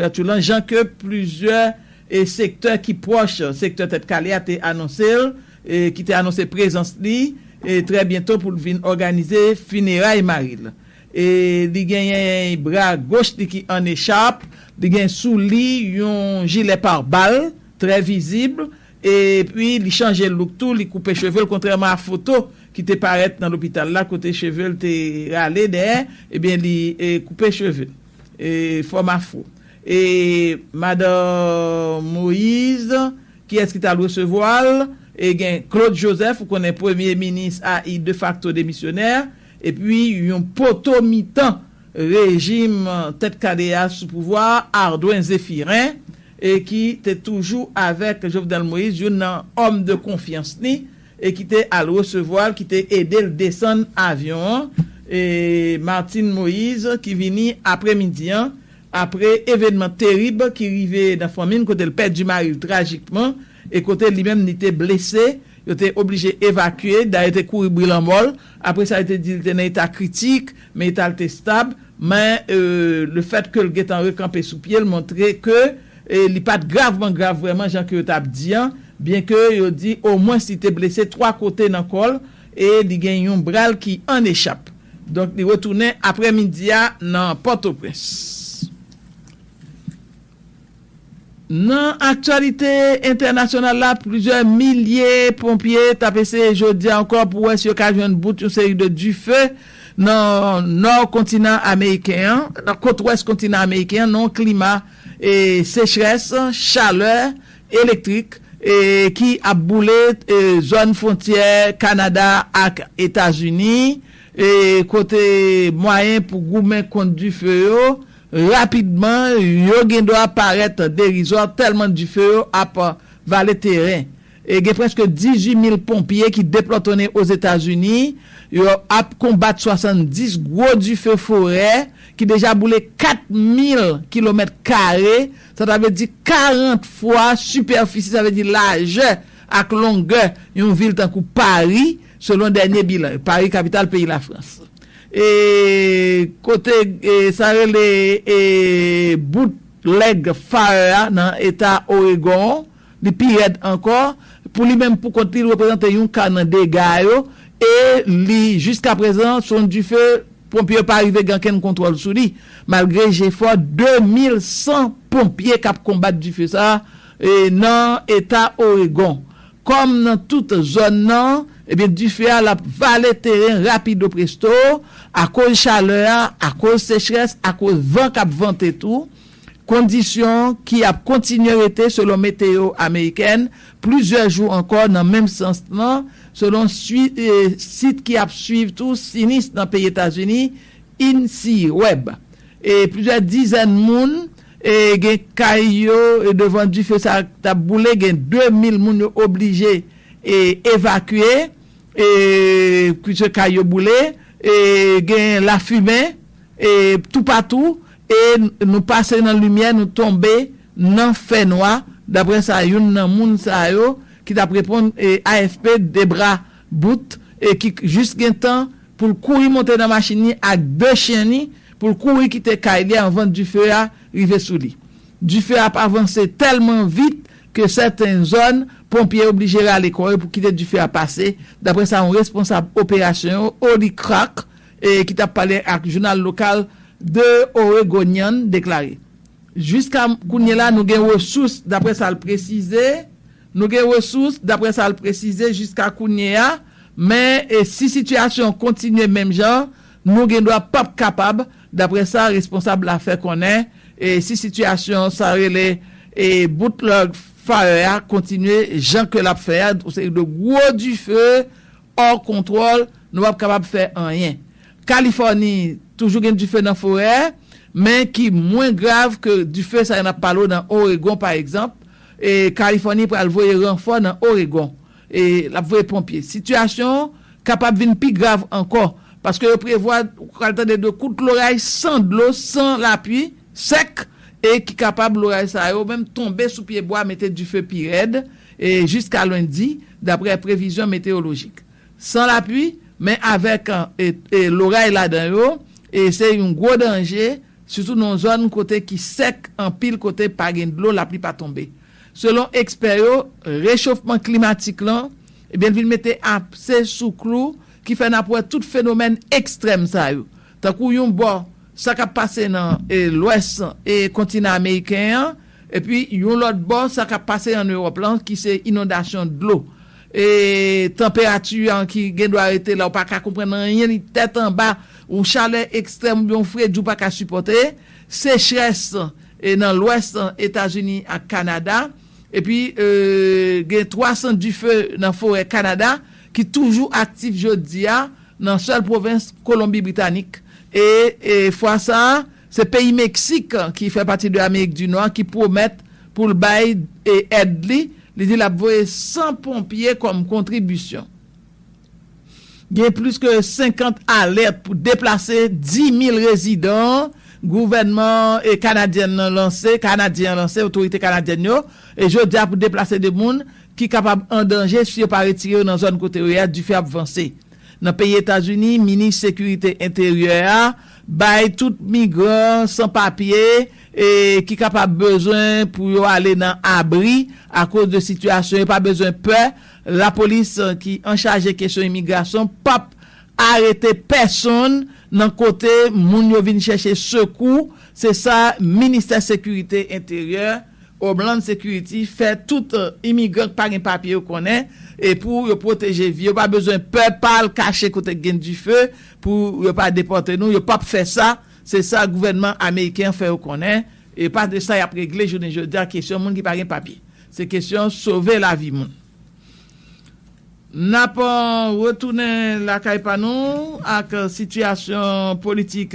Sitou lan jan ke plizyè sektè ki pwòch sektè Tèt Kale a te anonse l, ki te anonse prezans li trè byento pou l vin òganize fineray mari l. E li genyen bra goch li ki ann echap, li gen sou li yon jilè parbal trè vizib, epi li chanje louk tou, li koupe cheve l kontrèman a foto ki te parèt nan lopital la kote cheve l te rale dèyè, ebyen li koupe cheve l. Fòm afro. E madan Moise, kiyès ki t al resevwa l? E gen Claude Joseph, ou konnen premye minis a i defakto demisyonè, epi yon poto mitan rejim tèt kale a sou pouvwa a, Ardouin Zéphirin, e ki te toujou avèk Jovenel Moise, youn nan òm de konfyans li. e ki te al resevwa l, ki te ede l desann avyon an, e Martine Moïse ki vini apre midi an, apre evenman terib ki rive nan fanmi l kote l pèdi mari l trajikman e kote li menm li te blese, yo te oblije evakye, dayè yo te kouri bri lanmò l, apre sa yo te di li te nan eta kritik, men eta l te stab, men le fèt ke l gentan rekanpe sou pye l montre ke. e li pat gravman grav vrèman jan ke yo tap di an, byen ke yo di omwens li te blese 3 kote nan kò l e li gen yon bra l ki an echap. Donk li retounen aprè midi a nan Pòtoprens. Nan aktyalite entènasyonal la, plizyè milye ponpye tap eseye jodi a ankò pou wè si yo ka jwenn bout yon seri de dife nan nò kontinan ameriken an, nan kot wès kontinan ameriken an nan yon klima sechrès, chalè, elektrik ki ap boule zòn fwontyè Kanada ak Etazini kote mwayen pou goumen kont dife yo rapidman yo gendwa parèt derizwa tèlman dife yo ap vale teren. E gen prèske 18 mil ponpye ki deplòtonnen Ozetazini, yo ap konbat 70 gwo dife forè ki deja boule 4 mil kilomèt kare, sa ta vle di 40 fwa sipèfisi, sa vle di lajè ak longè yon vil tankou Pari, selon dènye bilan yo, Pari kapital peyi Lafrans. E kote sa rele bout lèg Fire a nan eta Oregon, Li pi rèd ankò, pou li menm pou kont li, li reprezante yon ka nan dega yo e li jiskaprezan son dife ponpye yo pa rive gen ankenn kontwòl sou li malgre jefò 2100 ponpye k ap konbat dife sa nan eta Oregon. Kòm nan tout zòn nan, ebyen dife a l ap vale teren rapido presto akoz chalè a, akoz sechrès, akoz van k ap vante tou. Kondisyon ki ap kontinye rete selon meteyo amerikèn plizyè jou ankò nan menm sans lan, selon sit ki ap swiv tou sinis nan peyi Etazini, INCIWEB. Plizyè dizèn moun gen kay yo devan dife sa k ap boule, gen 2 mil moun yo oblije evakye pwiske kay yo boule, gen lafimen toupatou. E nou pase nan limyè, nou tonbe nan fènwa, daprè sa youn nan moun sa yo ki t ap reponn AFP, Debra Booth, ki jis gen tan pou l kouri monte nan machin li ak de chen li pou l kouri kite kay li anvan dife a rive sou li. Dife a ap avanse tèlman vit ke sèten zòn ponpye oblije rale kò yo pou kite dife a pase, daprè sa yon responsab operasyon yo, Holly Crack, ki t ap pale ak jounal lokal The Oregonian, deklare, Jiska kounye la, nou gen resous, dapre sa l presize, nou gen resous, dapre sa l presize, jiska kounye a, men si sitiyasyon an kontinye menm jan an, nou gendwa p ap kapab, dapre sa responsab la fè konnen, si sitiyasyon sa yo rele Bootleg Fire a kontinye jan ke l ap fè a, yon seri de gwo dife. Hors contrôle, nou pap kapab fè anyen. Kalifòni, toujou gen dife nan forè, men ki mwen grav ke dife sa yo nap pale w nan Oregon pa egzanp, e Kalifòni pral voye ranfò nan Oregon, e lap voye ponpye. Sitiyasyon kapab vin pi grav ankò, paske yo prevwa, ou pral tande de kout loray san dlo, san lapui, Sèk, e ki kapab loray sa yo menm tonbe sou pye bwa mete dife pi rèd e jiska lendi, daprè previzyon meteyolojik. San lapui, men avèk e loray ladan yo, e se yon gwo danje, sitou nan zòn kote ki sèk anpil kote pa gen dlo lapli pa tonbe. Selon ekspè yo, rechofman klimatik lan, ebyen l vin mete apse sou klou ki fè n ap wè tout fenomèn ekstrèm sa yo. Tankou yon bò, Sa k ap pase nan lwès kontinan ameriken an, epi yon lòt bò sa k ap pase ann Ewòp lan ki se inondasyon dlo, tanperati an ki gen dwa rete la ou pa ka konprann anyen li tèt anba, yon chalè ekstrèm oubyen yon fredi ou pa ka sipòte, sechrès nan lwès Etazini ak Kanada. Epi, gen 300 dife nan forè Kanada ki toujou aktif jodi a nan sèl pwovens Kolonbi Britanik. E fwa sa a, se peyi Meksik, ki fè pati de Amerik di Nò, ki pwomèt pou l bay èd li. Li di l ap voye 100 ponpye kòm kontribisyon. Gen plis ke 50 alèt pou deplase 10,000 rezidan gouvènman kanadyen nan lanse, kanadyen an lanse, otorite kanadyèn yo, jodi a pou deplase de moun ki kapab an danje si yo pa retire yo nan zòn kote yo ye a, dife ap vanse nan peyi Etazini, minis sekirite enteryè a bay tout migran san papye ki kapab bezwen pou yo ale nan abri akoz de sitiyasyon yo pa bezwen pè. Lapolis ki anchaje kesyon imigrasyon p ap arete pèsonn nan kote moun yo vin chèche sekou, se sa Ministè Sekirite Enteryè, Homeland Security, fè tout imigran k pa gen papye yo konnen e pou yo pwoteje vi yo pa bezwen pè p al kache kote k gen dife pou yo pa depòte nou, yo p ap fè sa, se sa gouvènman ameriken an fè yo konnen. E pa de sa y ap regle jounen jodi a kesyon moun ki pa gen papye. Se kesyon sove lavi moun. N ap retounen lakay pa nou ak sitiyasyon politik.